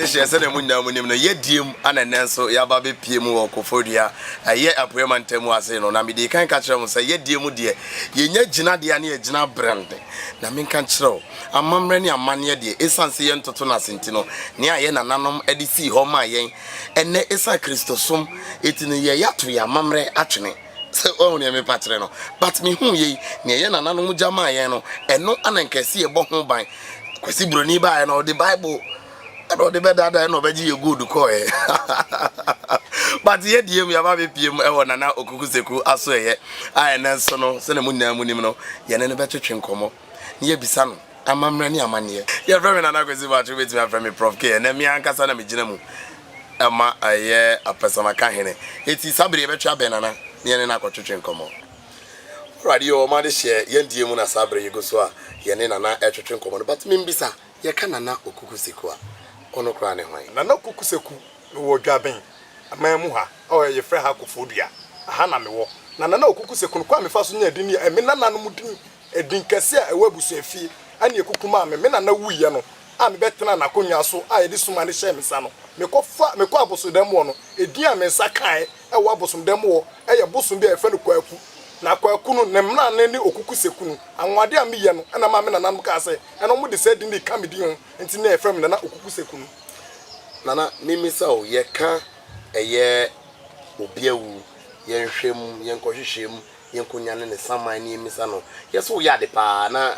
adehyɛ sɛdeɛ mu nyinaa mu nim no yɛdie mu ana nnɛ nso yɛaba bɛpie mu wɔ kofodua ɛyɛ apueɛ mantam ase no na mede kan ka kyerɛ mo sɛ yɛdie mu deɛ yɛnya gyinadeɛ ne yɛgyina berɛnde Na menka nkyerɛ wo, amammerɛ ne amanneɛ deɛ, ɛsiane sɛ yɛntoto no ase nti no, nea yɛn nananom de sii hɔ maa yɛn, ɛnnɛ ɛsiane Kristosom nti no, yɛreyɛ ato yɛn amammerɛ atwene. So woahu deɛ merepa kyerɛ no? But mehuu yei, nea yɛn nananom gya maa yɛn no, ɛno na nka ɛsɛ yɛbɔ ho ban. Kwasi Buroni baeɛ no, ɔde Bible. Ɛna ɔde bɛdaadaa ɛna ɔbɛgye yɛ gold kɔɔɛ but yɛ deɛ mu yɛaba abɛpiem wɔ Nana Okuku Seku asoɛeɛ a ɛnɛ nso no sɛdeɛ mo nyinaa monim no yɛne no bɛtwetwe nkɔmmɔ na yɛabisa no amammerɛ ne amanneɛ. Yɛfrɛ me Nana Kwesi Boatwere wobɛtumi afrɛ me Prof K. Ɛnɛ me ankasa na megyina mu ma ɛyɛ Apɛsamaka Hene enti saa bere yi yɛbɛtwe abɛn Nana na yɛne no akɔtwetwe nkɔmmɔ. Awurade o ɔma adehyeɛ yɛn deɛ mu na saa bere yi gu so a yɛne Nana ɛretwetwe nkɔmmɔ no but membisa, Yɛka Nana Okuku Seku a, ɔno koraa ne hwan? Nana Okuku Seku, mewɔ Dwaben man mu ha a yɛfrɛ ha Koforidua, aha na mewɔ. Na Nana Okuku Seku no, kwan a mefaa so nyaa din no yɛ me nananom din, edin kɛse a ɛwɔ abusuafie ne akuku maa me. Me nana wuiɛ no a mebɛtenaa n'akonnwa so a yɛde suma no hyɛɛ me nsa no, mekɔfa, mekɔɔ abosodɛm wɔ no, edin a me nsa kaeɛ wɔ abosomdan mu hɔ yɛ bosom bi a yɛfrɛ no Kwaku. Na Kwaku no, ne mmrane ne Okuku Sekunu. Anwonwade a meyɛ no na maa me nananom kaa sɛ, ɛno wɔde saa din no reka me din ho nti na wɔfrɛ me Nana Okuku Sekunu. Nana, memmisa o, yɛka ɛyɛ obi awu, yɛnhwɛ mu, yɛnkɔhwehwɛ mu, yɛnkɔnya no ne saman na yɛmmisa no, yɛ sɛ woyɛ ade paa anaa?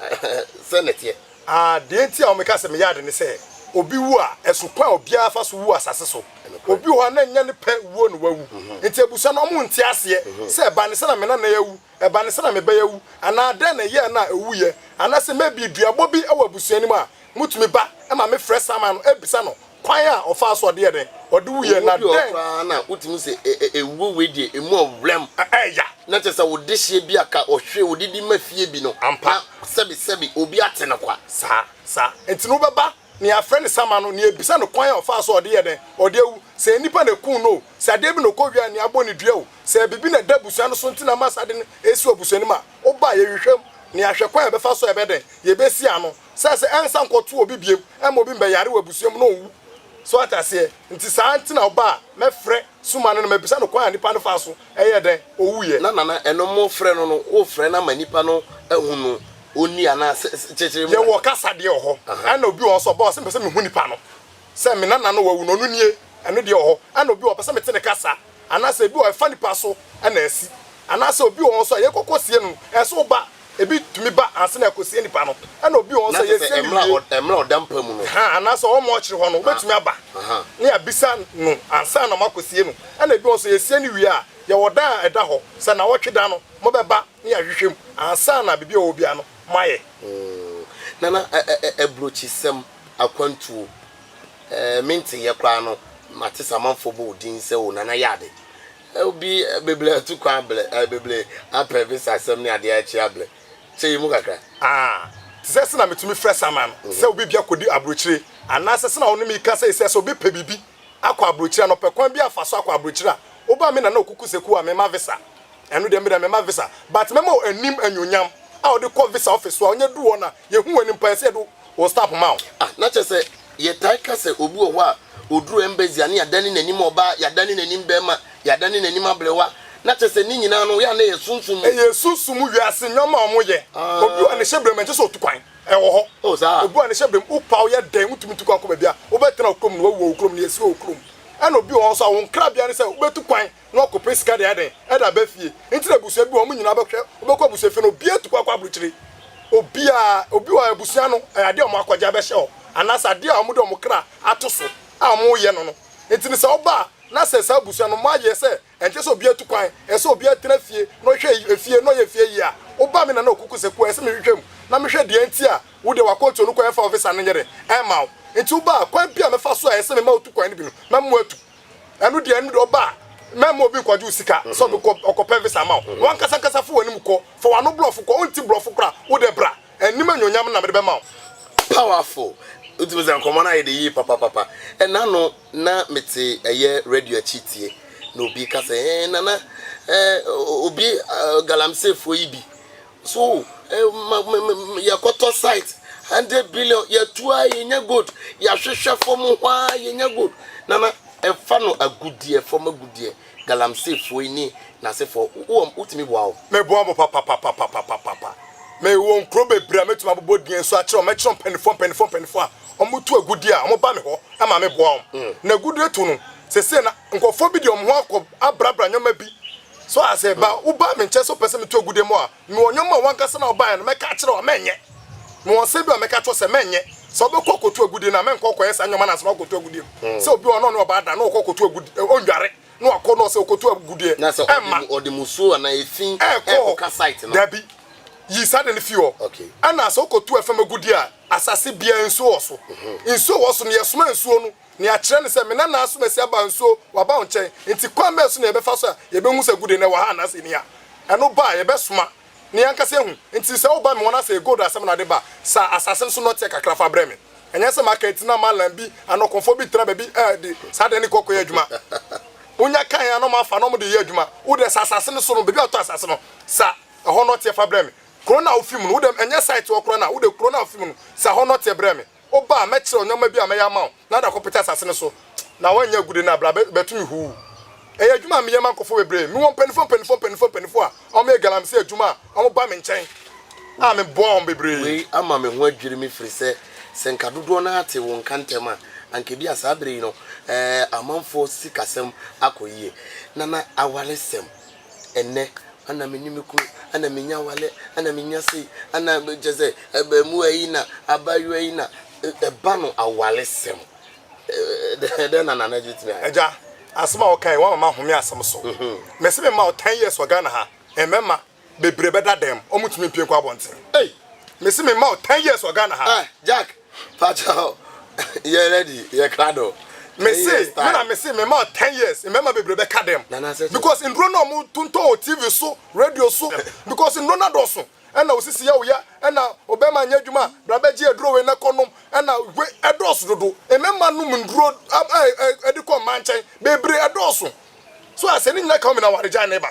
Sɛn na ɛteɛ? A Deɛ nti a wɔka sɛ meyɛ ade ne sɛ, obi wu a, ɛso kwan a obiara fa so wu asase so. Obi wɔ hɔ a na ɛnyɛ ne pɛ wuo na wawu. Enti abusua no, wɔnte aseɛ sɛ ɛba ne sɛ na me nana yi awu, ɛba ne sɛ na me ba yi awu, anaa dɛn na ɛyɛɛ no a ɔwuiɛ. Anaasɛ maybe duabɔ bi wɔ abusua no mu a motumi ba ma mefrɛ Saman no bisa no Kwan a ɔfaa so ɔde yɛɛ dɛn? Ɔde wuiɛ, na dɛn. Owuo bi wɔ hɔ koraa na wotumi se ewuo wei deɛ emu ɔwuram. Ɛyɛ ya. Na kyerɛ sɛ wo dehyeɛ bi a ka ɔhwe wode de ma fie bi no, na sɛbe sɛbe obi ate no kwa. Saa, saa. Enti no wobɛba nea yɛafrɛ no Sama no, na yɛabisa no kwan a ɔfaa so ɔde yɛɛ dɛn? Ɔde awu. Sɛ nnipa na ɛkuu no o, sɛ adeɛ bi na ɔkɔwiaa nea abɔ no dua o, sɛ biribi na ɛda abusua no so nti na ama saa ade no resi wɔ abusua no mu a, woba a, yɛhwehwɛ mu, na yɛahwɛ kwan a yɛbɛfa so a yɛbɛyɛ dɛn? Yɛbɛsi ano. sɛ sɛ ɛnsa nkɔto obi biom ɛma obi mbɛyare wɔ abusua mu na ɔwu so ate aseɛ nti saa nti na ɔbaa mɛfrɛ suma no na mabisa no kwan a nipa no faa so ɛyɛɛ dɛn ɔwuiɛ. Na nana ɛno mo frɛ no no wo frɛ no ama nipa no ahu no ɔnni anaa sɛ kyekyere mu na. Yɛwɔ kasadeɛ wɔ hɔ ɛna obi wɔ hɔ sɛ ɔba hɔ sɛ mepɛ sɛ mehu nipa no. Sɛ me nana na wawu no, ɔno nie, ɛno deɛ ɔwɔ hɔ. Ɛna obi wɔ hɔ a, ɔpɛ sɛ mete ne kasa, anaasɛ ebi wɔ hɔ a, ɛfa nipa so na asi, anaasɛ obi wɔ hɔ nso a, yɛkɔkɔ sie no no, ɛsɛ sɛ woba, ebi tumi ba ansa na yɛakɔsie nipa no, ɛna obi wɔ hɔ nso a, yɛsie no wie, ahaa, anaasɛ ɔwɔ mortuary hɔ no, wobɛtumi aba na yɛabisa no ansa na moakɔsie no, ɛna ebi wɔ hɔ nso a, yɛsie no wie a, yɛwɔ dan a ɛda hɔ, sɛ nnawɔtwe da no, mobɛba. ne ahwehwɛ mu ansa na biribi a ɔwɔ biara no moayɛ. Ooh Nana ɛ ɛ ɛ Abrokyisɛm, akwantuo, ɛɛ me nteeɛ koraa no mate sɛ amanfoɔ bɔ wo din sɛ oh Nana yɛ ade ɛ obi ɛ beble atu kwan ablɛ ɛ beble apɛ visa asɛm ne adeɛ akyi ablɛ kyɛ yi mu kakra. Aah te sɛ sɛ na metumi frɛ Saman no sɛ obi bi akɔdi abrokyire anaa sɛ sɛ na wo ne me reka sɛi sɛ sɛ obi pɛ biribi akɔ abrokyire a na ɔpɛ kwan bi afa so akɔ abrokyire a woba me Nana Okuku Seku a mema visa. Ɛno deɛ me deɛ mɛma visa but mɛma wo anim anuonyam a wode kɔ visa office so a wonya du hɔ no a yɛhu w'anim paa ɛsɛ yɛde wo stamp ma wo. Ah na kyerɛ sɛ yɛtae ka sɛ obi wɔ hɔ a ɔduru embassy a na yɛadane n'anim ɔbaa, yɛadane n'anim barima, yɛadane n'anim abrewa na kyerɛ sɛ ne nyinaa no yɛ a na ɛyɛ sunsum mu. Ɛyɛ sunsum mu wiase nnoɔma a wɔn yɛ. Obi a ne hyɛ brem a ɛnkyɛ sɛ ɔtu kwan, ɛwɔ hɔ. Oh saa. Obi a ne hyɛ brem, wo paa woyɛ dɛn wontumi ntu kwan nkɔ baabi a wobɛtena wɔ kurom no wawu wɔ wo kurom no yɛsi wɔ wo kurom. Ɛna obi wɔ hɔ nso a wɔn krabea ne sɛ wobɛtu kwan na ɔkɔpɛ sika de ayɛ dɛn, de aba fie. Nti na abusua bi wɔ hɔ, wɔn nyinaa bɛhwɛ, wobɛkɔ abusua fie no, obiara tu kɔ akɔ aburokyire. Obiara, obi wɔ abusua no, ɛyɛ adeɛ a wɔn akɔgye abɛhyɛ hɔ, anaasɛ adeɛ a wɔde wɔn kra ato so a wɔyɛ no no. Nti no sɛ woba a, na sɛ saa abusua no moayɛ sɛ ɛnkyɛ sɛ obiara tu kwan, ɛsɛ sɛ obiara tena fie na ɔhwɛ efie na ɔyɛ efie yie a, woba a me nana ɔkuku sɛ kuo a, ɛsɛ sɛ mehwehwɛ mu na mehwɛ deɛ nti a wo deɛ w'akwantuo no kwan mfa wo visa no nyɛ dɛn, ɛmma wo. Nti woba a, kwan biara a mɛfa so a ɛsɛ sɛ mema wotu kwan no bi no, mɛma woatu. Ɛno deɛ ɛno deɛ ɔba a mɛma obi nkɔgye wo sika sɛ ɔbɛkɔ ɔkɔpɛ visa ama wo wankasa ankasa fa w'anim kɔ fa w'ano brɔfo kɔ wonte brɔfo koraa wo deɛ bra anim anuonyam no na mede bɛma wo. Powerful! Wotumi sɛ nkɔmmɔ no ayɛ dɛ yie papapapa. Ɛna no na me te ɛyɛ radio akyi tie na obi ka sɛ eh nana eh obi galamseyfoɔ yi bi So ma ma ma ma yɛkɔtɔ site hundred billion yɛtu a yɛnya gold yɛahwehwɛ fam hɔ ara yɛnya gold nana ɛfa no agudeɛ fam agudeɛ galamsey foɔ yi ne nasefoɔ wo wotumi boa wɔn. Mɛboa mo papapapapapapa me wɔ nkuro bebree a mɛtumi abobɔ din nso akyerɛ wɔn mɛkyerɛ mpaninfoɔ mpaninfoɔ mpaninfoɔ a wɔn tu agudeɛ a wɔn ba me hɔ ma me boa wɔn na agudeɛ tu no sese na nkorɔfoɔ bi deɛ wɔn ho akɔ abrabra nneɛma bi So ate ase? Ba, wobaa me nkyɛn sɛ wopɛ sɛ meto agude ma wo a, mewɔ nneɛma a w'ankasa na wobaeɛ no mɛka akyerɛ wo a mɛnyɛ. Mewɔ nsɛm bi a mɛka akyerɛ wo sɛ mɛnyɛ. Sɛ wobɛkɔ akɔto agude no a, mɛnkɔ nkɔyɛ saa nneɛma no ansa na woakɔto agudeɛ no. Sɛ obi wɔ hɔ na ɔne ɔbaa da na ɔkɔ kɔto agudeɛ, ɔnnware na wakɔ na ɔsɛ ɔkɔto agudeɛ, ɛmma. Ɛɛkɔ hɔ. Dabi. Yi saa ade no fi hɔ. Ɛnna sɛ wokɔto fam agudeɛ a, asase biara nsuo wɔ so. Nsuo wɔ so no, yɛsoma nsuo no. Nea ɛkyerɛ ne sɛ, Me na naaso masi aba nso waba wo nkyɛn. Enti kwan bɛn so na yɛbɛfa so a yebehu sɛ agude no wɔ ha anaasɛ enni ha? Ɛno ba a, yɛbɛsoma na yɛn ankasa ahu. Enti sɛ woba me hɔ na sɛ ɛyɛ gold asɛm na wode ba a, sa asase no so nnɔteɛ kakra fa brɛ me. Ɛnyɛ sɛ maka eti na Malam bi anaa ɔkɔmfoɔ bi tena baabi de saa dan no kɔ kɔyɛ adwuma. Wonya ka yɛn a na wɔafa na wɔde reyɛ adwuma. Wo deɛ, sa asase no so no, baabi a wɔtɔ asase no, sa ɛhɔ nnɔteɛ fa brɛ me. Kuro no a wufi mu no, wo deɛ, ɛnyɛ site hɔ koraa na wode kuro no a wufi mu no, sa hɔ nnɔteɛ brɛ me. Wo ba a, mɛkyerɛ wo nneɛma bi a mɛyɛ ama wo na wode akɔpete asase no so, na woannya agude no a, bra bɛto me huu. Ɛyɛ adwuma a meyɛ ma nkurɔfoɔ bebree. Mewɔ mpanimfoɔ mpanimfoɔ mpanimfoɔ mpanimfoɔ a wɔyɛ galamsey adwuma a wɔba me nkyɛn a meboa wɔn bebree. Wei ama me ho adwiri me firi sɛ, sɛ nka dodoɔ no ara te wo nka ntɛm a, anka ebia saa berɛ yi no, ɛɛ, amanfoɔ sikasɛm akɔ yie, na na awaresɛm. ɛnnɛ ana me ne me kunu ana menya awale ana menya sei ana kyɛ sɛ abaamuwa yi na abaayewa yi na ɛba no awalesɛm dɛn na nana gye tumi ayɛ. ɛgya asɛm a wɔkae wɔn mama home asɛm so mhm. mɛsɛ me ma o ten years wɔ Ghana ha mmarima bebree bɛda dɛm wɔn tumi mpie nkɔ abɔnten mɛsɛ me ma o ten years wɔ Ghana ha. Ah, Jack Pakyɛw yɛ ready yɛ krado. Me se me na me se me ma ten years mmarima bebree bɛ ka dɛm because nduro na ɔmo tontɔn wɔ TV so radio so because nduro no adɔso ɛna osisi yɛ oyɛ ɛna ɔbɛrima nyɛ adwuma bra bɛ gye aduro wei na kɔ nom ɛna we ɛdɔso dodo mmarima nom nduro ɛde kɔ mmaa nkyɛn bebree ɛdɔso so asɛ ne nyina ka ɔmena ware gyae ne ba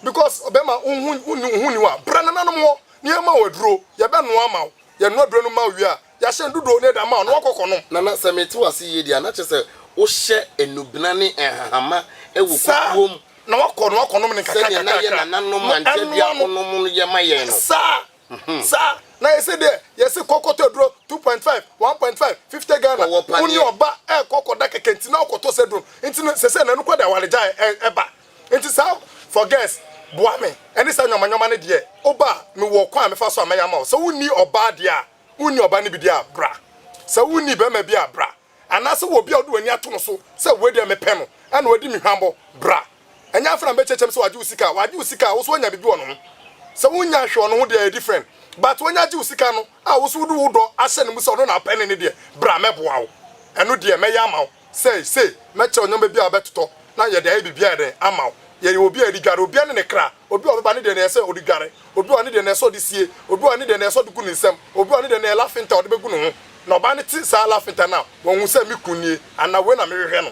because ɔbɛrima ohun ohun niwa bra nananom hɔ nneɛma wɔ aduro yɛbɛ noa ma wo. Yɛnoa aduro no ma wo wie a, yɛahyɛ no dodow no de ama wo na woakɔ akɔnom. Nana, sɛ mete wo ase yie deɛ a, na kyerɛ sɛ wohyɛ nnubena ne nhahama wɔ kukuo mu. Saa na woakɔ na woakɔnom no nkakra nkakra. Sɛdeɛ na yɛn nananom ankyɛdeafoɔ nom no yɛ ma yɛn no. Saa, saa na yɛ sɛ deɛ yɛse kɔ kɔtɔ aduro, two point five, one point five, fifty Ghana, wo ne ɔba rekɔ akɔda kɛkɛ nti na wokɔtɔ saa aduro no. Nti no, seesei no, ɛno koraa de awaregyaeɛ ba. Enti saa forgets, boa me, ne saa nnoɔma nnoɔma no deɛ, woba a, mewɔ ɔkwan a mɛfa so a mɛyɛ ama wo. Sɛ wonni ɔbaa deɛ a, wonni ɔbaa no bi deɛ a, bra. Sɛ wonni barima bi a, bra. Anaa sɛ wowɔ obi a wode w'ani ato no so sɛ wei deɛ mepɛ no, ɛna wadi me hwammɔ, bra. Ɛnyɛ afei na mɛkyeakyea mu sɛ wagye wo sika. Wagye wo sika a, wo nso woanya biribi wɔ ne ho. Sɛ wonnya hwee wɔ ne ho deɛ, ɛyɛ different. But wanya gye wo sika no, A wo nso wode wo dɔ ahyɛ no mu sɛ ɔno na wopɛ ne ne deɛ, bra mɛboa wo. Ɛno deɛ mɛyɛ ama wo. Sei, sei, mɛkyerɛ wo nneɛma bi a wobɛtotɔ na yɛde ayɛ biribiara yɛ dɛn? Ama wo. Yɛyɛ obi a yɛde dware. Obiara ne ne kra. Obi a ɔbɛba ne deɛ na ɛyɛ sɛ ɔde dware. Obi wɔ hɔ ne deɛ na ɛyɛ sɛ ɔde sie. Obi wɔ hɔ ne deɛ na ɛyɛ sɛ ɔde gu ne nsam. Obi wɔ hɔ ne deɛ na ɛyɛ lafenta a ɔde bɛgu ne ho. Na ɔbaa no te saa lafenta no a, wahu sɛ me kunu nie anaa wei na mehwehwɛ no.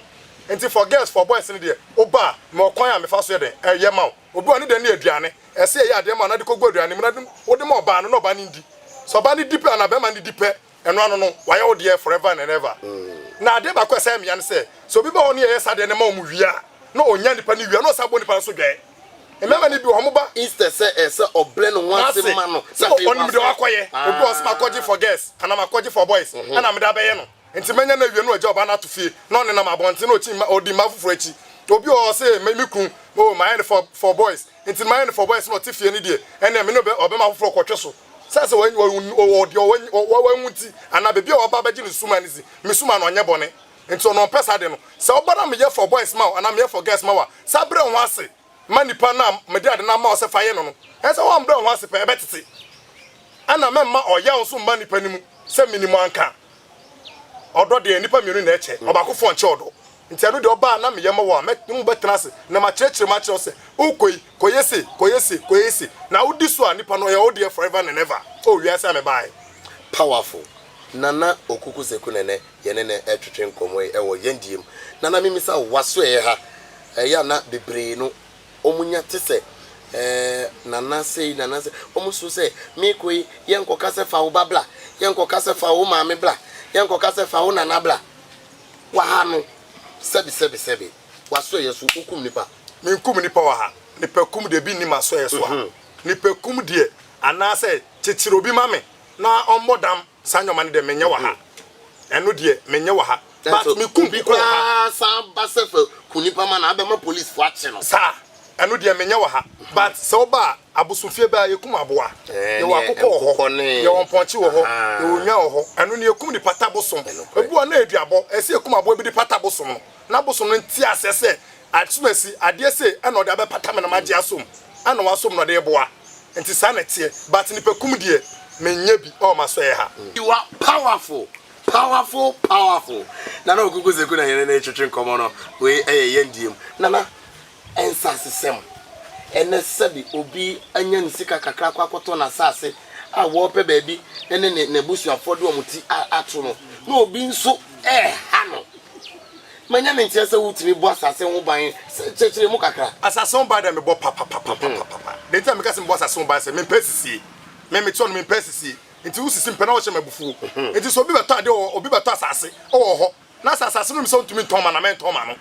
Enti for girls, for boys no deɛ, woba a, mewɔ kwan a mefa so yɛ dɛn? Ɛyɛ ma wo. Obi wɔ hɔ a ne dɛ ne aduane. Ɛsɛ sɛ yɛyɛ adeɛ ma no na de kɔgu aduane mu na wode ma ɔbaa no na ɔbaa no ndi. Sɛ ɔbaa no di pɛ anaa bɛrima no di pɛ, ɛno ano no, wayɛ wo deɛ forever and ever. Na adeɛ baako a ɛsɛ mmea ne sɛ, sɛ obi ba hɔ na yɛyɛ saa adeɛ no ma wɔn wie a, na ɔnya nipa no wie a, na ɔsan bɔ nipa no nso dwɛɛ. Mmarima no bi wɔ hɔ, wɔba. Instead sɛ ɛsɛ sɛ ɔbrɛ ne ho ase ma no, na afei wasɛ. Ɔnim deɛ wakɔyɛ. Ebi wɔ hɔ, ɔse makɔgye for girls anaa makɔgye for boys, ɛna mede abɛyɛ no. Enti manya no awie no wagya ɔba no ato fie na ɔnenam abɔnten na ɔkyi mma ɔdi mmaa foforɔ akyi. Obi wɔ hɔ ɔse me me kunu oh mayɛ no for for boys enti mayɛ no for boys na ɔte fie no deɛ ɛneɛ me ne ɔbɛ ɔbɛma foforɔ kɔtwe so sɛ sɛ wɔ wɔ wɔ deɛ ɔwɔ nyi ɔwɔ wɔ nwu nti anaa baabi a ɔba bɛgye no sumaa no dzi me sumaa no ɔnyɛ bɔne enti ɔno ɔmpɛ saa deɛ no sɛ ɔba na meyɛ for boys ma wo anaa meyɛ for girls ma wo a sɛ brɛ wo ho ase ma nipa no a mede ade no ama wo sɛ fa yɛ no no, ɛsɛ sɛ wɔbrɛ wo ho ase pɛn, ɛbɛtete. Ɛnna mɛmma ɔyaw nso mma nnipa no mu, sɛ me ne mo anka. Ɔdɔ deɛ, nnipa mmienu na ɛkyɛ, ɔbaakofoɔ nkyɛ ɔdɔ. Nti ɛno deɛ, ɔba a na meyɛ ma wo a, me ne mo bɛtena ase, na makyerɛkyerɛ mu akyerɛ wo sɛ, Wokɔ yi, kɔyɛ sei, kɔyɛ sei, kɔyɛ sei, na wodi so a, nipa no, ɔyɛ wo deɛ forever and ever. O wiase a mebaeɛ! Powerful. Nana Okuku Seku Nene. Yɛne no retwetwe nkɔmmɔ yi wɔ yɛn deɛ mu. Na na memmisa wo, w'asoɛeɛ ha? Ɛyɛ a na bebree no wɔnya te sɛ ɛɛ Nana sei, Nana sei. Wɔsuro sɛ, merekɔ yi, yɛnkɔka sɛ fa wo ba bra, yɛnkɔka sɛ fa wo maame bra, yɛnkɔka sɛ fa wo nana bra wɔ ha no. Sɛbe, sɛbe, sɛbe. W'asoɛeɛ so, wokum nnipa. Menkum nnipa wɔ ha. Nipakum deɛ, ebi nni m'asoɛeɛ so a. Nipakum deɛ, anaasɛ kyekyere obi ma me na ɔmmɔ dam. Saa nneɛma no deɛ menyɛ wɔ ha. Ɛno deɛ menyɛ wɔ ha. But me kum bi koraa. Obi koraa san ba sɛ fɛ ku nipa ma no abɛ ma police fo akye no. Saa. Ɛno deɛ menyɛ wɔ ha. But sɛ woba a abosomfie bɛa yɛkum aboa. Yɛwɔ akokɔ wɔ hɔ. Yɛwɔ mpɔnkye wɔ hɔ. Yɛwɔ nnwan wɔ hɔ. Ɛno no yɛkum de pata bosom. Ebi wɔ hɔ na yɛ duabɔ. Ɛsɛ sɛ yɛkum aboa bi de pata bosom no. Na bosom no nte aseɛ sɛ Akyemasi, Adeɛ sei na ɔde abɛpata me na magye asom na wasom na ɔde reboa nti saa na ɛteɛ but nipa kum deɛ menyɛ bi wɔ m'asoɛeɛ ha. You are powerful, powerful, powerful Nana Okuku Zeku na yɛne no retwetwe nkɔmmɔ no. Wei yɛ yɛn deɛ mu. Nana, nsasesɛm, ɛnnɛ sɛbe obi anya ne sika kakra akɔ akɔtɔ n'asase a wɔrepɛ baabi ne n'abusuafoɔ de wɔn ti ato no na obi nso reha no, Manya ne nteɛ sɛ wotumi bɔ asase ho ban sɛ kyerɛkyerɛ mu kakra. Asase ho ban deɛ mebɔ papapapapapa. Deɛ nti a meka sɛ mebɔ asase ho ban sɛ mempɛ asisie. Me mete hɔ no mempɛ asisie nti wosisi mpɛ na wɔhyɛ me abufuo. Nti sɛ obi bɛtɔ adeɛ wɔ hɔ obi bɛtɔ asase wɔ hɔ na sɛ asase no nim sɛ ɔntumi ntɔn ma no a mɛntɔn ma no.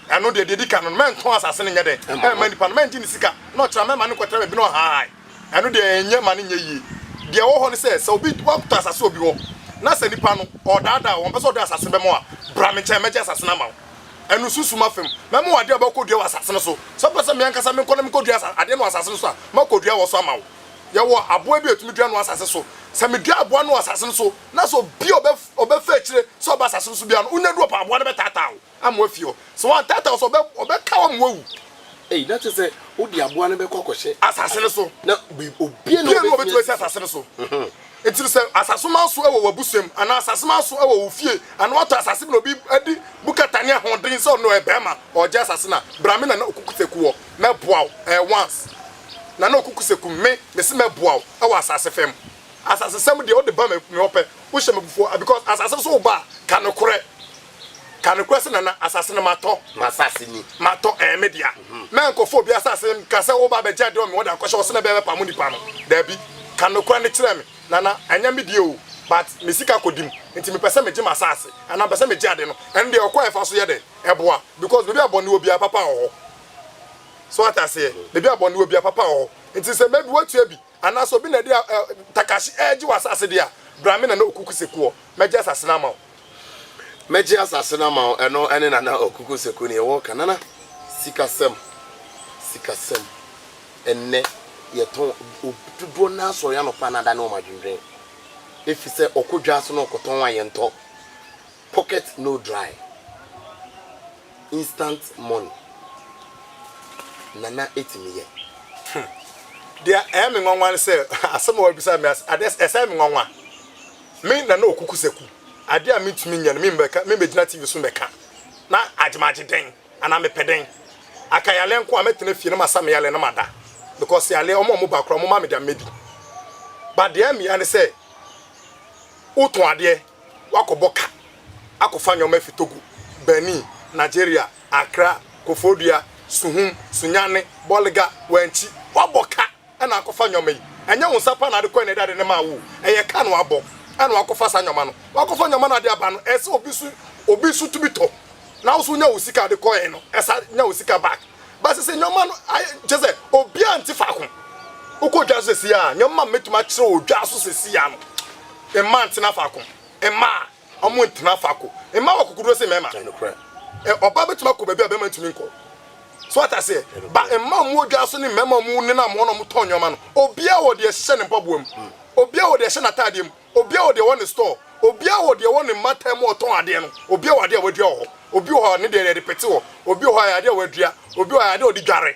Ɛno deɛ deɛ ɛdi kan no no mɛntɔn asase no nyɛ dɛn mma nipa no mɛngye ne sika na ɔkyena mɛma no nkɔtra baabi na ɔhahae. Ɛno deɛ ɛnyɛ ma no nyɛ yie. Deɛ ɛwɔ hɔ ne sɛ, sɛ obi, woatɔ asase wɔ obi hɔ, na sɛ nipa no, ɔredaadaa wo, ɔmpɛ sɛ ɔde asase no bɛma wo a, bra me nkyɛn, mɛgye asase no ama wo. Ɛno, susu m'afa mu. Mɛma wo adeɛ a wobɛkɔdua wɔ asase no so. Sɛ wopɛ sɛ me ankasa menkɔ na menkɔdua asa, adeɛ no wɔ asase no so a, mɛkɔdua wɔ so ama wo. Yɛwɔ aboa bi a yɛtumi dua no wɔ asase so. Sɛ medua aboa no wɔ asase no so, na sɛ obi a ɔbɛ, ɔbɛfa akyire sɛ ɔba asase no so biara no, wonya du hɔ paa, aboa no bɛtaataa wo. ama wafi hɔ. Sɛ wɔantaataa wo so a, ɔbɛka wo ama woawu. Ei, na kyerɛ sɛ wode aboa no bɛkɔ akɔhyɛ. Asase no so. Na obiara nni hɔ a obetumi asi asase no so. Enti no, sɛ asaseman so wɔ w'abusua mu, anaa asaseman so wɔ wo fie, anaa wɔatɔ asase bi na obi adi mu kata ne ahoɔden sɛ ɔno ɔyɛ barima, ɔregye asase no a, bra me Nana Okuku Seku hɔ, mɛboa wo. Ɛyɛ once. Nana Okuku Seku, me, mese mɛboa wo wɔ asase fam. Asasesɛm deɛ, wode ba me hɔ pɛ, wohyɛ me abufuo a, because asase no so woba a, ka nokorɛ. Ka nokorɛ sɛ nana asase no matɔ. Masase ni. Matɔ, ɛyɛ me dea. Mɛ nkɔfa obi asase nka sɛ woba abɛgye adeɛ wɔ me hɔ de akɔhyɛ hɔ sɛ na ɛbɛyɛ mɛpamo nipa no. Daabi. Ka nokorɛ no kyerɛ me. Nana, ɛnyɛ me dea o, but me sika kɔdi mu nti mepɛ sɛ megye masase anaa mepɛ sɛ megye ade no. Ɛno deɛ ɔkwan a ɛfa so yɛ dɛn? Ɛboa. Because baabi a bɔne wɔ biara papa wɔ hɔ. So wate aseɛ? Baabi a bɔne wɔ biara papa wɔ hɔ. Nti sɛ maybe woatua bi. anaasɛ obi na de ɛ ɛ takahye regye w'asase de a, bra me Nana Okuku Sekuɔ, mɛgye asase no ama wo. Mɛgye asase no ama wo, ɛno ne Nana Okuku Seku neɛ wɔreka. Nana, sikasɛm, sikasɛm, ɛnnɛ yɛtɔn, obi dodoɔ no ara sɔre anɔpa na ada ne wɔn adwendwen, efisɛ ɔkɔ dwa ase na ɔkɔtɔn a yɛntɔ. Pocket no dry instant money na na ɛtumi yɛ. Hmm. Deɛ ɛyɛ me nwanwa ne sɛ, asɛm a wabisa me ase, adeɛ ɛsɛe me nwanwa. Me Nana Okuku Saku, adeɛ a mentumi nyɛ no, membɛka, membɛgyina TV so mbɛka, na agye magye dɛn? Anaa mepɛ dɛn? Aka yaleɛ nko a, mɛtena fie na masa me yaleɛ na mada. Because yaleɛ, wɔn a wɔn ba koraa, wɔn mma me deɛ mɛdi. But deɛ ɛyɛ me ya ne sɛ, wotɔn adeɛ, Wɔakɔbɔ ka akɔfa nneɛma afi Togo, Benin, Nigeria, Accra, Koforidua, Suhum, Sunyani, Bolga, Wanchi. Wɔabɔ ka na akɔfa nneɛma yi. Ɛnyɛ wo nsa paa na ade kɔe na ɛde ade no maa wo o. Ɛyɛ ka na wɔabɔ na wɔakɔfa saa nneɛma no. Wɔakɔfa nneɛma na ade aba no, ɛsɛ sɛ obi nso obi nso tumi tɔ na wo nso wonya wo sika a ade kɔe no, ɛsan nya wo sika back. But sese nneɛma no ayɛ kyerɛ sɛ obiara nte faako. Wokɔ dwa so sesei a, nneɛma a mɛtumi akyerɛ wɔ dwa so sesei a no, Mma ntena faako. Mma a wɔntena faako. Mma wɔ akokoɔduro sen mmarima. Ɛyɛ nokorɛ. Ɔbaa bɛtumi akɔ baabi a barima ntumi nkɔ. So wate aseɛ? Ba mma a wɔwɔ dwa so ne mmarima a wɔnenam hɔ na wɔtɔn nneɛma no, obiara wɔ deɛ ɛhyɛ ne mpaboa mu. Obiara wɔ deɛ ɛhyɛ n'ataadeɛ mu. Obiara wɔ deɛ ɛwɔ ne store. Obiara wɔ deɛ ɛwɔ ne mmata mu a ɔtɔn adeɛ no. Obiara wɔ adeɛ a wadua wɔ hɔ. Obi wɔ hɔ a, ne deɛ yɛde pete hɔ. Obi wɔ hɔ a, ɛyɛ adeɛ a wadua. Obi wɔ hɔ a, ɛyɛ adeɛ a ɔde dware.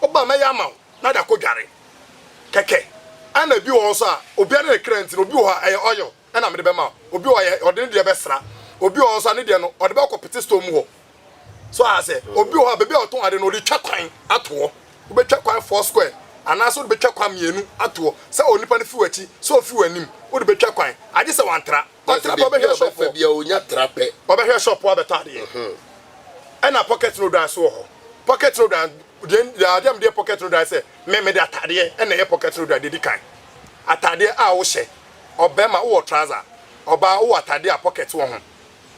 Wo ba mɛyɛ ama wo na de akɔ dware kɛkɛ ɛna ebi wɔ hɔ nso a obiara ne ne kra nti no obi wɔ hɔ a ɛyɛ oil ɛna mede bɛma wo obi wɔ hɔ a ɔde ne deɛ bɛsra obi wɔ hɔ nso a ne deɛ no ɔde bɛkɔ pete store mu hɔ so a sɛ obi wɔ hɔ a baabi a ɔtɔn ade no ɔde twa kwan ato hɔ wobɛtwa kwan four square anaasɛ wode bɛtwa kwan mmienu ato hɔ sɛ onipa no fi w'akyi sɛ ofi w'anim wode bɛtwa kwan agye sɛ wantra Ɔtra ba bɛhwɛ sɛ ɔpɔ. Baabi a ɔnya tra pɛ. Ɔbɛhwɛ sɛ ɔpɔ abɛtɔ adeɛ. Ɛna pocket no dan so wɔ hɔ. Pocket no dan, deɛ adeɛ a mede yɛ pocket no dan sɛ, me mede atadeɛ na ɛyɛ pocket no dan deɛ ɛdi kan. Atadeɛ a wohyɛ, ɔbarima wowɔ trouser, ɔbaa wowɔ atadeɛ a pocket wɔ ho,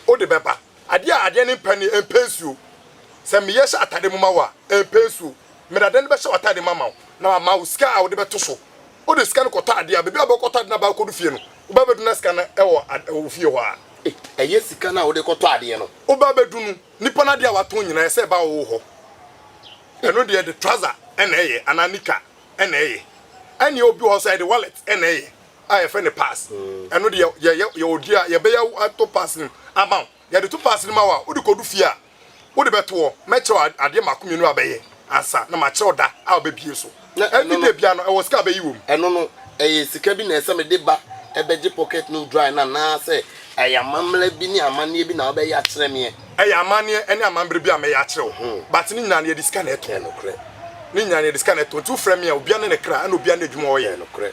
wode bɛba. Adeɛ a adeɛ no mpɛ no, ɛmpɛ nsuo. Sɛ meyɛ hyɛ atadeɛ mu ma wo a, ɛmpɛ nsuo. Mede adeɛ no bɛhyɛ w'atadeɛ mu ama wo na mama wo sika a wode bɛto so. wode sika no kɔtɔ adeɛ a, baabi a wobɛkɔtɔ ade no aba akɔdu fie no, woba bɛdu na sika no wɔ wo fie hɔ a. Ɛyɛ sika no a wode kɔtɔ adeɛ no. Woba bɛdu no, nipa no adeɛ a watɔn nyinaa ɛsɛ ɛba wo hɔ. Ɛno deɛ ɛde trouser na ɛyɛ anaa nika na ɛyɛ. Ɛneɛ obi wɔ hɔ nso a ɛde wallet na ɛyɛ a yɛfrɛ no pass. Ɛno deɛ yɛyɛ, yɛwɔ dua a yɛbɛyɛ ato pass no mu ama wo. Yɛde to pass no ma wo a, wode kɔdu fie a, Wode bɛto hɔ. Mɛkyerɛ wo adeɛ mmaako mmienu a bɛyɛ ansa na makyerɛ wo da a wobɛbue so. Na ɛno no. Everyday biara no, ɛwɔ sika a bɛyi wɔ mu. Ɛno no, ɛyɛ sika bi na ɛsɛ sɛ mede ba bɛgye pocket no dry no anaasɛ ɛyɛ amammerɛ bi ne amanneɛ bi na wobɛyɛ akyerɛ meɛ? Ɛyɛ amanneɛ ne amammerɛ bi a mɛyɛ akyerɛ wo. But ne nyinaa no, yɛde sika na ɛtɔ. Ɛyɛ nokorɛ. Ne nyinaa no, yɛde sika na ɛtɔ. Nti wofrɛ me a, obiara ne ne kra ɛna obiara ne adwuma a ɔyɛ. Ɛyɛ nokorɛ.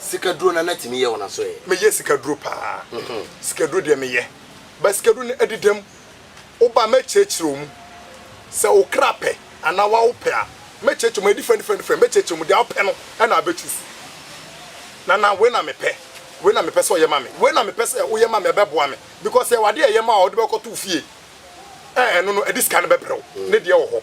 Sikaduro na na tumi yɛ wɔn asoɛɛ. Me yɛ sikaduro paa. Sikaduro deɛ me yɛ. But sikaduro no ɛdedam. Wo ba mɛ kyerɛkyerɛ ɔmu. Sɛ wo kra pɛ anaa wa wo pɛ a mɛ kyerɛkyerɛ ɔmu. Ɛyɛ different different different. Mɛ kyerɛkyerɛ ɔmu. Deɛ wo pɛ no ɛna abɛ choose. Nana wei na me pɛ. Wei na me pɛ sɛ ɔyɛ ma me. Wei na me pɛ sɛ wo yɛ ma me ɛbɛ boa me. Because yɛ wɔ adeɛ a ɛyɛ ma wo a wo de bɛ kɔ to wo fie. Ɛɛ ɛno no ɛde sika no bɛ brɛ wo. Ne deɛ wɔ hɔ.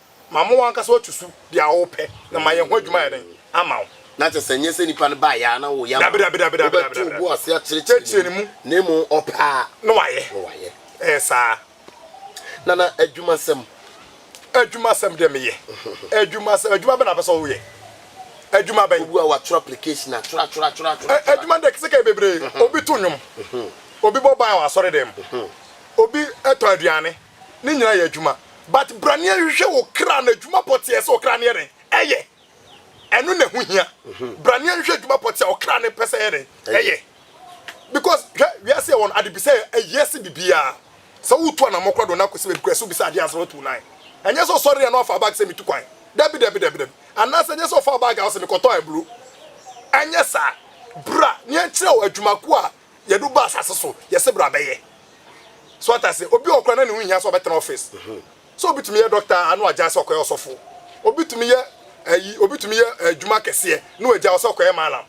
ma mo ankasa woatu su deɛ a wopɛ, na mayɛ ho adwuma ayɛ dɛn? Ama wo. Na kyerɛ sɛ ɛnyɛ sɛ nipa no baeɛ ara na woyɛ ama no, wobɛto wo bo ase akyerɛkyerɛ ne mu, na mmom ɔpɛ a, na wayɛ. Ɛyɛ saa. Nana, adwumasɛm. Adwumasɛm deɛ meyɛ. Adwumasɛm, adwuma bɛn na wopɛ sɛ woyɛ? Adwuma bɛn? Obi a watwerɛ application atwerɛ atwerɛ atwerɛ atwerɛ atwerɛ. Adwuma no deɛ kɛsɛ kɛyɛ bebree. Obi to nnwom. Obi bɔ ban wɔ asɔredan mu. Obi tɔ aduane. Ne nyinaa yɛ adwuma but bra ne hwehwɛ wo kra no adwuma pɔteɛ sɛ ɔkra no yɛ dɛn ɛyɛ ɛno na ɛho hia bra ne hwehwɛ adwuma pɔteɛ ɔkra no pɛ sɛ ɛyɛ dɛn ɛyɛ because hwɛ wiase ɛwɔ no adebisa ɛyɛ se bibiaa sɛ wotu anamɔ kora do na akɔsi baabi kora sɛ wobisa adeɛ asɛ wotu nan ɛnyɛ sɛ ɔsɔre yɛ na wafa bag sɛ metu kwan dabi dabi dabi dabi anaasɛ ɛnyɛ sɛ ɔfa bag a ɔsɛ mekɔtɔ aburo ɛnyɛ saa bra ne ɛnkyerɛ wo adwumako a yɛde wo ba asase so yɛse bra bɛyɛ so wate ase obi wɔ kora na ne ho hia sɛ ɔbɛtena office mhm. sɛ obi tumi yɛ doctor ano agya sɛ ɔkɔyɛ ɔsɔfo obi tumi yɛ ayi obi tumi yɛ eh, adwuma kɛseɛ na wagya ɔsɛ ɔkɔyɛ malam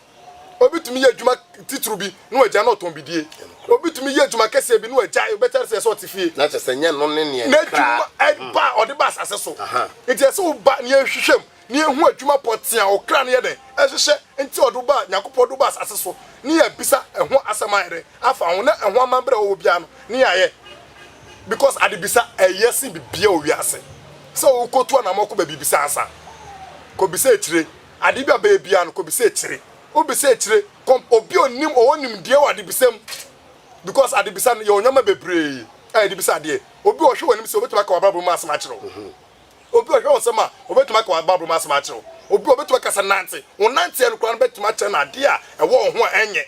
obi tumi yɛ adwuma titiri bi na wagya na ɔtɔn bidie obi tumi yɛ adwuma kɛseɛ bi na wagya wobɛkyɛre sɛ ɛsɛ ɔte fie na kyɛ sɛ nyɛ no ne neɛ n'adwuma ɛba ɔde ba asase so nti ɛsɛ woba neɛ nhwehwɛm ne ehu edwuma pɔtsee a ɔkra no yɛ dɛ hyehyɛ ntsi ɔdze wo baa Nyankopɔn do baa asaase so ne yɛ bisa ho asɛm ayɛ dɛ afa ho na ho amambra a ɔwɔ biara no ne yɛ ayɛ because adebisa ayɛ sen biribiara wɔ wiase sɛ wo kotu anamɔ kɔ baabi bisa ansa kɔ bisa ekyire ade bi a bɛyɛ biara no kɔ bisa ekyire wo bisa ekyire kɔ obi a onim ɔwɔ nimdeɛ wɔ adebisa mu because adebisa no yɛ onyama bebree a yɛde bisa adeɛ obi ɔhwɛ wɔ anim sɛ obetumi aka wɔ abrabɔ mu asɛm akyerɛ wo. Obi a ɔhwɛ wo nsam a, obetumi aka w'abaabɔ mu asɛm akyerɛ wo. Obi a obetumi aka sɛ nante, wo nnanteɛ no koraa no betumi akyerɛ no adeɛ a ɛwɔ wo ho a ɛnyɛ.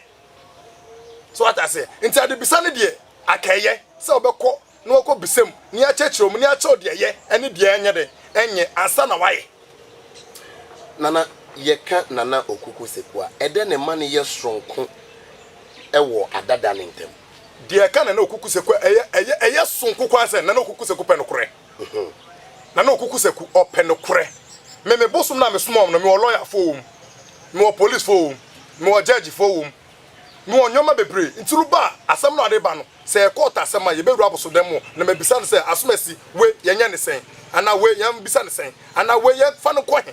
So wate aseɛ? Nti adebisa no deɛ, aka ɛyɛ sɛ wobɛkɔ na wakɔ bisa mu ne akyerɛkyerɛ wo mu ne akyerɛ wo deɛ ɛyɛ ɛne deɛ ɛnyɛ dɛn ɛnyɛ ansa na wayɛ. Nana, Yɛka Nana Okuku Seku a, ɛdɛn na ɛma no yɛ soronko wɔ adada no ntam? Deɛ ɛka Nana Okuku Seku a, ɛyɛ ɛyɛ ɛyɛ soronko koraa sɛ Nana Okuku Seku pɛ nokorɛ. ho. Na na Okuku sɛ ku ɔpɛ nokorɛ. Me me bosom no a me soma wɔn no, me wɔ lawyer foɔ wɔ mu, me wɔ police foɔ wɔ mu, me wɔ judge foɔ wɔ mu, me wɔ nnoɔma bebree. Nti no ba a, asɛm no a ɔde ba no, sɛ ɛyɛ court asɛm a, yɛbɛwura abosodɛm mu na mabisa no sɛ, Asomasi, wei yɛnyɛ no sɛn? Anaa wei yɛn bisa no sɛn? Anaa wei yɛn fa no nkɔ he?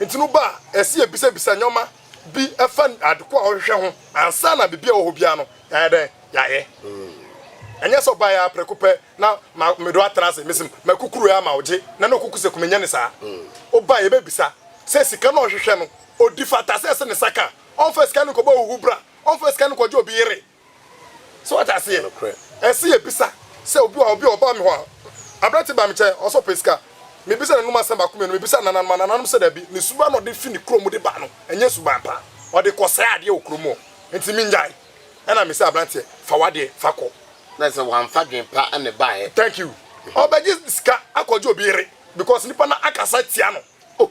Enti no ba a, ɛsɛ yɛbisabisa nneɛma bi fa ade ko a ɔhwehwɛ ho ansa na biribi a ɛwɔ hɔ biara no yɛayɛ dɛn? Yɛayɛ. Ɛnyɛ sɛ ɔbaeɛ ara prɛko pɛ na mede wo atra ase, mese makukuru yɛ ama wo gye na na ɔkuku sɛ kɔ menyɛ ne saa. Woba a yɛbɛbisa sɛ sika no a ɔhwehwɛ no ɔdi fata sɛ ɛsɛ ne nsa ka a, ɔmfa sika no nkɔbɔ ahuhubra, ɔmfa sika no nkɔgye obi yere, So wate aseɛ? Ɛsɛ yɛbisa sɛ obi wɔ ha, obi a ɔbaa me hɔ a, aberante baa me nkyɛn, ɔsɛ ɔpɛ sika. Mebisa nananom asɛm baako mmienu, mebisa nananom a, nananom sɛ dabi, ne suban na ɔde fi ne kurom de ba no, ɛnyɛ suban pa, ɔde kɔsɛe adeɛ wɔ kurom hɔ, nti mengyae. Ɛna mese aberanteɛ, fa w'adeɛ, fa kɔ. Na ɛsɛ sɛ wamfa adwene pa na ɛbaeɛ. Thank you. Ɔbɛgye sika akɔgye obi yere because nipa no akasa atia no, Oh,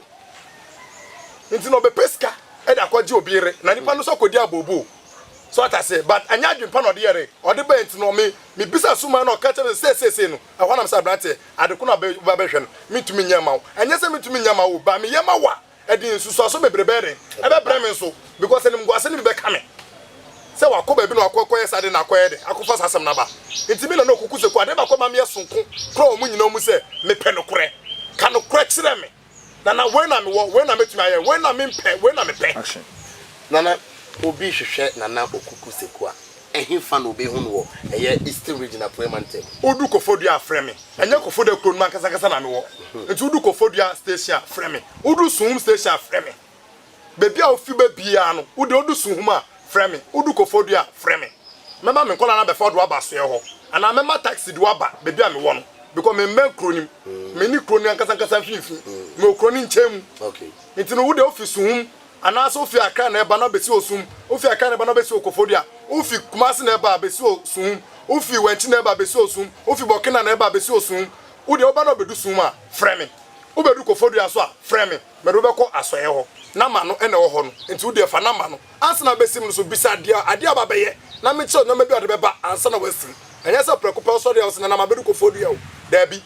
nti na ɔbɛpɛ sika ɛde akɔgye obi yere, na nipa no nso akɔdi abooboo. So ate aseɛ? But ɛnyɛ adwene pa na ɔde yɛre, ɔde bae nti no, me, mebisa suman na ɔka kyerɛ me sɛ sei, sei, sei no, ɛhɔ na me sɛ abranteɛ, ade ko na wobɛ, woba bɛhwɛ no, mentumi nyɛ mma wo. Ɛnyɛ sɛ mentumi nyɛ mma wo o, but meyɛ ma wo a, ɛde nsusuaso bebree bɛyɛ dɛn? Ɛbɛbrɛ me nso, because animguase no bi bɛka me. sɛ ɔakɔ baabi na ɔakɔ kɔyɛ saa de na akɔyɛ dɛn akɔfa saa asɛm no aba. Ntsi me na na ɔkoko sɛ, Kuada baako a ɔma meyɛ soronko koraa wɔ mo nyina mu sɛ mepɛ nokorɛ. Ka nokorɛ kyerɛ me, na na wei na mewɔ, wei na metumi ayɛ, wei na mempɛ, wei na mepɛ. Na na obi hwehwɛ Nana Okuku Seku a, ɛhefa na obehu no wɔ? Ɛyɛ Eastern Region Apueɛ Mantam. Wodu Kofodua a, frɛ me. Ɛnyɛ Kofodua kuro no mu ankasankasa na mewɔ. Nti wodu Kofodua Station a, frɛ me. Wodu Suhum Station a, frɛ me. Baabi a wofi ba biara no, wo de, wodu Suhum a, frɛ me, wodu Kofodua a, frɛ me. Mɛma me nkwadaa no abɛfa wo de wo aba asoɛe hɔ, anaa mɛma taksi de wo aba baabi a mewɔ no, because memmɛn kuro no mu. Menni kuro no ankasankasa mfimfini, mewɔ kuro no nkyɛn mu. Enti no, wo de, wofi Suhum, anaasɛ wofi Accra na ɛreba na abɛsi wɔ Suhum, wofi Accra na ɛba na abɛsi wɔ Kofodua, wofi Kumasi na ɛba abɛsi wɔ Suhum, wofi Wantsi na ɛba abɛsi wɔ Suhum, wofi Burkina na ɛba abɛsi wɔ Suhum, wo de, woba na wubedu Suhum a, frɛ me. Wubedu Kofodua nso a, frɛ me. Mede wo bɛkɔ asɔeɛ hɔ, na ma no na ɛwɔ hɔ no, enti wo deɛ fa na ma no. Ansa na abɛsim no so, bisa deɛ adeɛ aba bɛyɛ, na menkyerɛ wo nneɛma bi a ɔde bɛba ansa na wasim. Ɛnyɛ sɛ prɛko pɛ wosɔre a wose, 'Nana, mabɛdu kɔfoɔ dua o. Daabi.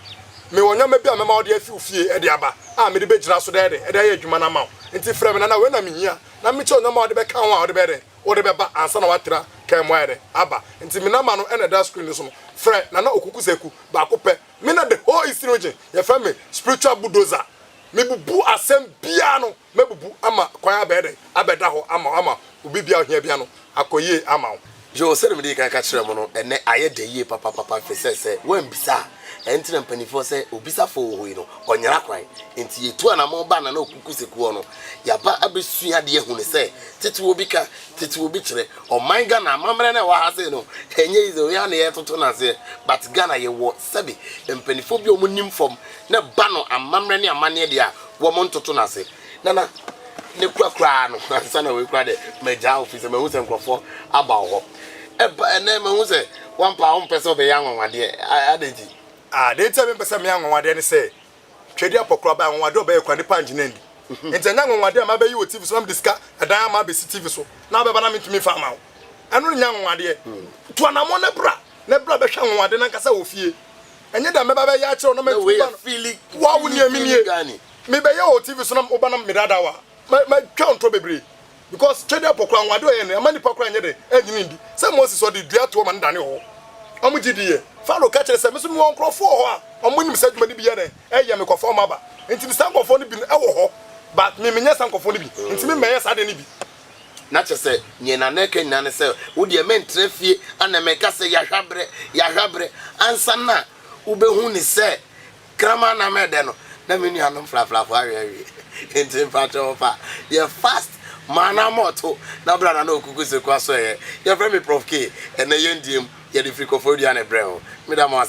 Mewɔ nneɛma bi a mɛma wode afi wo fie de aba, a mede bɛgyina so dɛɛdɛ de ayɛ adwuma no ama wo. Enti frɛ me, Nana, wei na mehia, na menkyerɛ wo nneɛma a wode bɛka ho a wode bɛyɛ dɛn? Wode bɛba ansa na woatra kaa mu ayɛ dɛn? Aba. Enti me na ma no na ɛda screen no so no. Frɛ Nana Okuku Seku, baako pɛ. Me na the whole Eastern Region yɛfrɛ me Spiritual Bulldozer. Mebubu asɛm biara no mɛbubu ama kwan abɛyɛ dɛn? Abɛda hɔ ama wo ama wo biribiara a ohia biara no akɔ yie ama wo. Yoo, sɛdeɛ medii kan ka kyerɛɛ mo no, ɛnnɛ ayɛ dɛ yie papapapa efisɛ sɛ woammisa a, ɛno nti na mpanimfoɔ sɛ obisafoɔ wɔ hɔ yi no, ɔnyera kwan. Enti yɛtu anammɔn ba Nana Opoku Sekuo no, yɛaba abɛsua adeɛ ahunu sɛ tete obi ka, tete obi kyerɛ. Ɔman Ghana, amammerɛ no a ɛwɔ ha sei no, ɛnyɛ easy o, yɛn ara na yɛretoto no aseɛ, but Ghana yɛwɔ Sɛbe mpaninfoɔ bi a wɔn nim fam na ba no amammerɛ ne amanneɛ deɛ a, wɔn ntoto no ase. Nana, ne kura koraa no, ansa na wei koraa deɛ, magyaa wo, firi sɛ mahu sɛ nkorɔfoɔ aba wo hɔ. Ɛba, ɛnnɛ mahu sɛ, w'ampa a wompɛ sɛ wobɛyɛ anwanwadeɛ, adɛn nti? Ah, deɛ nti a mempɛ sɛ meyɛ anwanwadeɛ ne sɛ, Twɛdi apɔ koraa ɔbɛyɛ anwanwade ɔbɛyɛ koraa nipa angyina ndi nti ɛnyɛ anwanwade a mabɛyi wɔ TV so na mede sika ɛdan ama abɛsi TV so na wobɛba na mentumi mfa ama wo ɛno nyɛ anwanwadeɛ to anamɔ na bra na bra bɛhwɛ anwanwade no ankasa wɔ fie ɛnyɛ dɛ mɛba bɛyɛ akyerɛ wo na mantumi ba no wa wo nie menie mebɛyɛ wɔ TV so na woba na medada wo a matwa ntorɔ bebree Because Twedeɛ pɔ koraa anwonwade a ɔyɛɛ no ɛmma nnipa koraa nyɛ dɛ ɛnyini ndi. Sɛ Moses ɔde dua too ma no danee ɔwɔ. Wɔn gye diiɛ. Farao ka kyerɛɛ sɛ me nso mewɔ nkurɔfoɔ wɔ hɔ a wɔn nim saa adwuma no bi yɛ dɛ ɛyɛ me kɔfa wɔn aba. Nti ne saa nkurɔfoɔ no bi wɔ hɔ but me menyɛ saa nkurɔfoɔ no bi nti me mmɛyɛ saa adeɛ no bi. Na kyerɛ sɛ neɛ Nana ɛka nyinaa ne sɛ wo deɛ me ntra fie ana me nka sɛ yahwɛ abrɛ yahwɛ abrɛ ansa na wo bɛ hu ne sɛ Kraman na mɛ dɛ no na me nua nom frafrafo awe awie nti mpakyɛw fa yɛ fast maa na ama ɔto na bra na na okuku seku aso ɛyɛ yɛfrɛ me prof K ɛnɛ yɛn die mu yɛde firi kɔfoɔ dua ne brɛ wo meda mo ase.